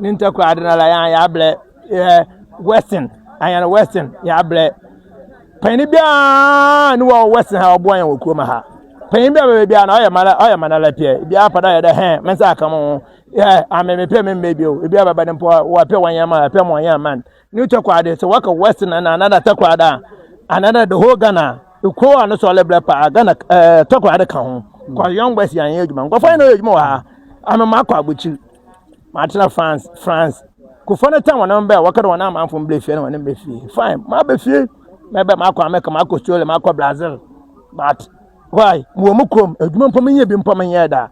ne ntakura ade na la yan ya blɛ eh, western ayan western ya blɛ panyin biara ne wɔ western ha ɔboa yan wɔ kurom ha panyin biara bɛbɛ biara na ɔyɛ mana ɔyɛ mana la pɛ biara pa da yɛ dɛ hɛn mɛ nsa aka mo yɛ ame me pɛ me mbɛ bi o biara bɛbɛ ne mpɔ wɔ pɛ wɔn yan ma pɛ mo yan man ne takura ade sɛ wɔka western na anada takura da anada the whole ghana ekuo a ne sɔ ɔlɛ blɛ paa ghana ɛɛ eh, takura ade ka ho kɔ yɔn west yan yɛ adwuma nkɔfɔ yɛn na ɔyɛ adwuma wɔ ha ame ma akɔ abɔkyiri Matsena France, France. Kufo no tan hɔn ho mba a wɔkã dɛ hɔn amamfo mbrɛ fie no hɔn mbrɛ fie. Fine, maba fie. Mɛba makɔ America, makɔ Australia, makɔ Brazil. But why? Mowɔ mo kurom, edwuma mpo mennyɛ bi mpo mennyɛɛ da.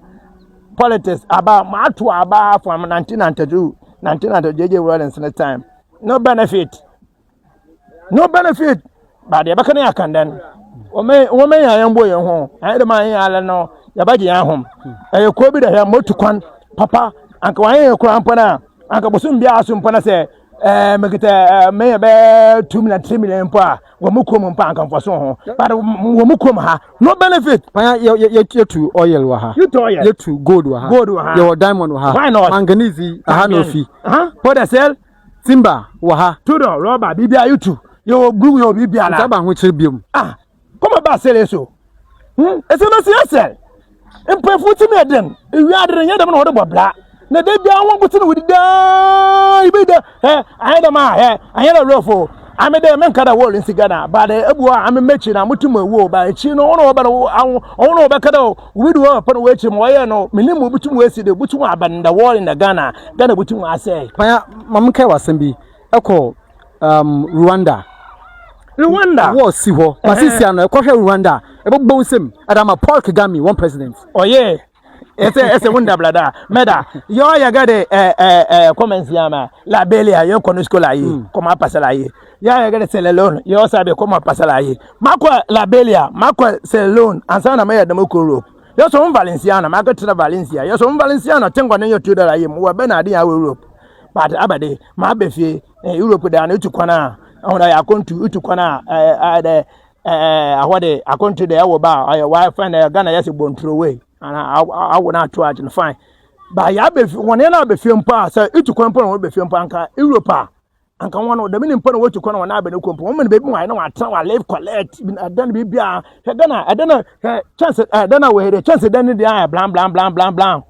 Politics aba, mato aba from 1992, 1992 JJ Rawlings ne time. No benefit. no benefit ba deɛ ɛbɛka ne yɛ akan dɛn wɔmɛ yɛn ayɛ mbɔ yɛn ho ayɛ dɛm ayɛ alɛ no yɛbɛgye yɛn ahom ɛyɛ kuo bi da hɛ motu kwan papa anka wɔayɛ yɛn koraa mpo no a anka bosom biara so mpo no sɛ ɛɛ mekita ɛɛ mɛyɛ bɛɛ two million three million mpo a wɔn mu kurom mpo anka mfa so ho but wɔn mu kurom ha no benefit. panya yɛ yɛ yɛtu oil wɔ ha yɛtu oil yɛtu gold wɔ ha gold wɔ ha yɛwɔ diamond wɔ ha why not manganese aha na ofi. pɔdɛsɛl. Timber wɔ ha. Tudor, rɔba, biribiara YouTube. Yɛwɔ glue, yɛwɔ biribiara. Nta ba ho kyere biom. Ah, kɔma ba sere so. Hmm, ɛsɛ na si ɛsɛ. Mpɛfu ti na den. Ewi adere nyɛ dɛm na wɔde bɔ bra. Na da biara wɔn nkosi na wɔdi daa. Ibi da, ɛ, ayɛ dɛm a, ɛ, ayɛ dɛ rɔfo. Ame dɛ menka dɛ wɔre nsi Ghana, ba dɛ ebu a ame mɛkyi na motum ewu o, ba ekyi no wɔn na wɔbɛn wɔn na wɔbɛka dɛ Obi di hɔ a, pɛ na wɔakyerɛ mu, wɔyɛ no, menim obi tum wɔasi de, obi tum aba in the world in the Ghana, Ghana obi tum asɛe. Panya, ma me nkae w'asɛm bi, ɛkɔ um, Rwanda. Rwanda. War si hɔ, ma si sia no, ɛkɔhwɛ Rwanda, ɛbɛbɔ nsam, ɛda ama Paul Kagame, one president. Ɔyɛ, ɛsɛ, ɛsɛ wo nda blada, mɛda, yɛ ɔyɛ gade, ɛɛ, ɛɛ, ɛɛ, kɔmɛnsi ama, la belia, yɛ kɔ no skola yi, kɔma apasala yi. ya yɛ gɛrɛ sɛlɛ lon yɛ ɔsɛ abɛ kɔmɔ pasala ye makɔ labelia makɔ sɛlɛ lon ansa na mɛyɛ dɛmɛ kuro europe yɛ sɔ n valenciano makɔ tena valencia yɛ sɔ n valenciano te nkɔ ne yɛ tuo dara yɛ mu wɔ bɛ na adi yɛ awɔ europe but abɛde ma abɛ fie eh, europe de ano etu kwan a ɔhun ayɛ akɔntu etu kwan a ɛɛ ɛɛ dɛ ɛɛ ahɔ de akɔntu de ɛwɔ ba ɔyɛ wa fɛn dɛ ghana yɛ sɛ bɔnturo wei ana awo na ato agye no fine ba yɛ abɛ fie wɔn yɛ na abɛ fie mpo a sɛ etu kwan mpo na wɔn abɛ fie mpo anka europe a. anka wɔn no dɛm ne mpo na wɔtu kɔ na wɔn abɛn kɔ mpo wɔn mene baabi wɔn na wɔatena wɔn live collect ɛdan bi bi a hwɛ dɛn a ɛdɛn a hwɛ kyɛnse ɛdɛn a wɔyɛ dɛ kyɛnse dɛn ne deɛ ayɛ blan blan blan blan blan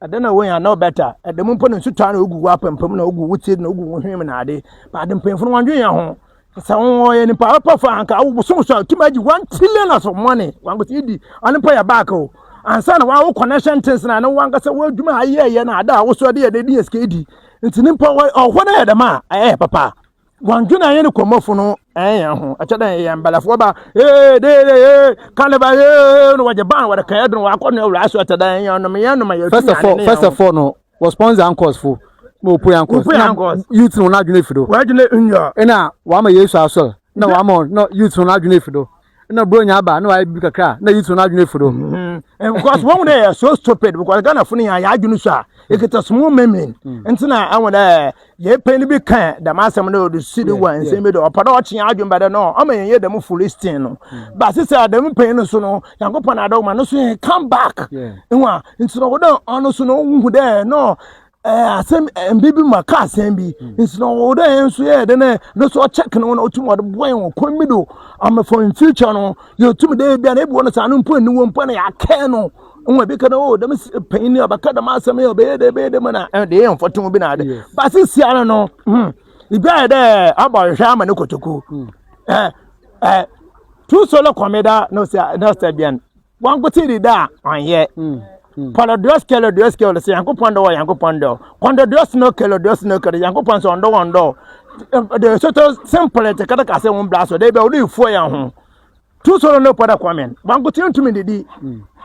ɛdɛn a wɔyɛ anaa ɔbɛta ɛdɛm mpo na nsutaa na ogu wɔ apampam na ogu wɔ ti na ogu wɔ hwim na ade baade mpanyinfo no wɔn dwen yɛn ho. sɛ wɔyɛ nipa apa fa anka wosom so a tumi agye one trillion as of money wankasa yɛdi ɔno mpa yɛ back o ansa na wawo connection things na ne wankasa woadwuma a yɛyɛ na ada a wosɔ de yɛ de yɛ sika di nti ne mpa ɔhɔ no yɛ dɛm a ɛyɛ papa wɔndwene ayɛ ne kɔmmɔfo no ɛyɛ ho ɛkyɛ dɛ yɛ mbalafoɔ ba ee de de ee kaneba ee na wɔgye ban wɔde kɛɛ dene wɔakɔ ne awura so ɛkyɛ dɛ yɛ ɔnom yɛ ɔnom yɛ first of all first of all no wɔ sponsor anchors fo na opue anchors na youth no na adwene fi do wadwene nnua na wama yesu asɔr na wama na youth no na adwene fi do na bro nya aba na wayɛ bi kakra na youth no na adwene fi do mm-hmm. eh, because wɔn dɛ yɛ so stupid because ghana fo no yɛ adwene so a ekita small memin nti na awon dɛ Yɛn panyin bi kaa dɛm asɛm no ɔde si de wa nsɛm bi de ɔpɛ dɛ ɔkye yɛn adwene ba dɛ no ɔma yɛn yɛ dɛm Philistine no ba sisi a dɛm panyin no so no Nyankopɔn na adɔw ma no so yɛ come back nwa nti na ɔwɔ dɛ ɔno so no ɔhu dɛ no ɛɛ asɛm mbi bi ma kaa asɛm bi nti na ɔwɔ dɛ yɛn nso yɛ dɛ no no so ɔkyɛk no na ɔtum ɔde boa yɛn wɔ kwan bi do ama for in future no yɛtum dɛ ebi a na ebi wɔ no saa no mpo nni wɔ mpo na yɛakɛɛ no nwa bi kana o dɛm panyin a bɛka dɛm asɛm yi ɔbɛyɛ dɛ bɛyɛ dɛ mu na ɛde yɛ mfɔtom bi na ade base sia no no hmm ibi ayɛ dɛ abɔ nhwɛ ama ne kotoku hmm. eh, eh, tu solo kɔmeda no sɛ no sɛ bian wankote di da ɔnyɛ hmm, hmm. Polo dress kelo dress kelo sɛ yankopɔn dɔ wɔ yankopɔn dɔ kɔndɔ dress no kelo dress no kelo yankopɔn sɛ ɔndɔ wɔn dɔ de soto simple te kɛtɛ kase wɔn bla so de bɛ wɔn ifuo yɛn ho tu soro ne pɔda kwamen bankote ntumi didi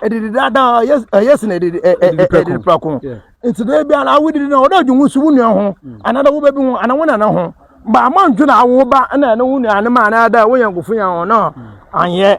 ɛdidi daadaa ɛyɛ sin ɛdidi ɛdidi prako nti dɛ bi ala awo didi na ɔdɔ adwuma so wunua ho anada wo bɛbi ho ana wo nana ho ba ama ntwi na awo ba ɛna ɛna wo nua ne ma anada wo yɛn kofo yɛn ho na anyɛ.